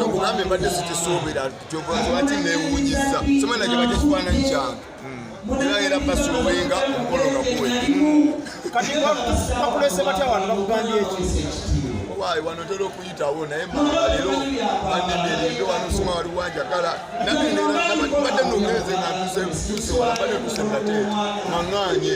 ogambye mbadde sikisuubira kyovati newunyiza somana gyebajja kifaananyi kyange era era basuwenga omukolo nga kuwe kati bakulese batya wano bakugambye eki waayi wano tera okuyitawo naye maalero banenderinde wano sima wali wanjagala nabadde nongereze nga ntuseusewabadde tusenate maŋanye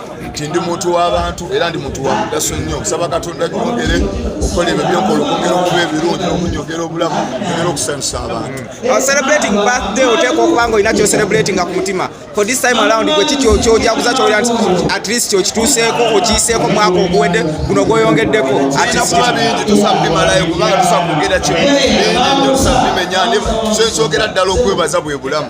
nti ndi muntu w'abantu era ndi muntu wa mugaso nnyo nsaba katonda gyongere okukola ebyo byokola okwongera okuba ebirungi n'okunyogera obulamu ogera okusanyusa abantu uh, celebrating birthday oteekwa okuba nga olina kyocelebratinga ku mutima for this time around gwe ki kyojaguza kyolira nti at least kyokituuseeko okiyiseeko mwaka oguwedde guno gwoyongeddeko atkuba bingi tusabimalayo kubanga tusakwogera kimu bingi nyo tusabimenya kyenkyogera ddala okwebaza bwe bulamu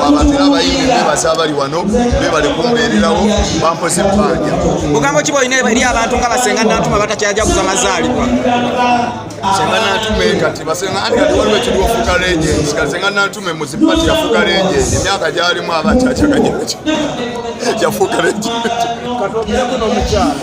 wabatera abayimbi bebaza abali wano bebale kumbeererawo bampoze ebbanja bugambo ki bwolina eri abantu nga basenga nantuma batakyajaguza mazaalibwa senga nantume kati basenga anti kati waliwo ekiri wafuuka legends kati senga nantume muzipati yafuuka legends emyaka gyalimu abakyakyaganyaky yafuuka legends kati obyeko nomukyala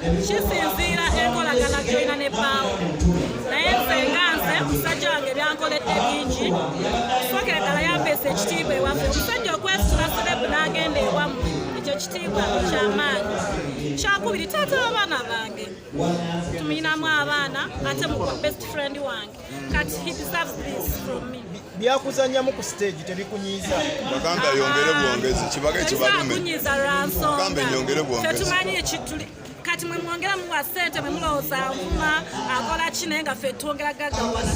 kisinziira enkolagana gyolina ne bbaawo naye nze nga nze omusajja wange byankoledde bingi sokera ddala yampeesa ekitiibwa ewaffe omusajja okwesula serebu n'agenda ewamu ekyo kitiibwa kyamaanyi kyakubiri taata w'abaana bange tumuyinamu abaana ate mukwa best friend wange Kati he deserves this from me. byakuzanyamu ku stage tebikunyiiza bagamba yongere bwongezi kibaga ekibalume bagamba enyongere bwongezi kati mwe mwongera muwa sente mwe mulowooza nvuma akola ki naye nga ffe twongera gagawala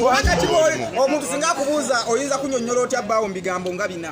wakati omuntu singa akubuuza oyinza kunyonyola otya bbaawo mu bigambo nga bina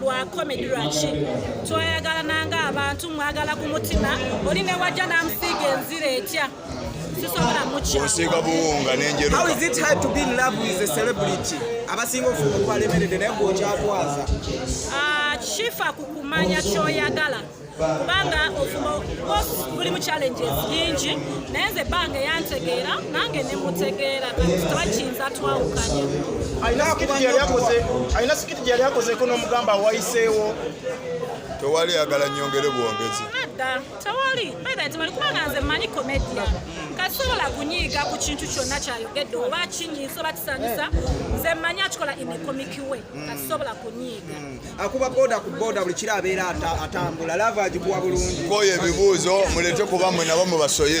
lwa komedi lwaki twayagalana nga abantu mwagala ku mutima oli ne wajja n'amusiiga enzira etya osiiga buwunga nenjeruaabuliti abasinga ofuba okwalemeredde naye gwokyatwaza ah, shifa kukumanya kyoyagala kubanga ofumo buli mu challenges nyingi naye nze ebbanga eyantegeera nange nemutegeera twakiyinza twawukanya alina sikiti gyeyali akozeko n'omugamba wayiseewo tewali yagala nyongere bwongezi nedda tewali beda tewali kubanga nze manyi komedia kasobola kunyiiga ku kintu kyonna kyayogedde oba kinyiisa oba kisanyusa nze manyi akikola in a comic way tasobola kunyiiga mm. akuba boda ku boda buli kiro abeera atambula lava agikuwa bulungi koyo ebibuuzo mulete kuba mwe nabo mubasoye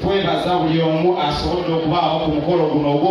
twebaza buli omu asobodde okubaawo ku mukolo guno ogwo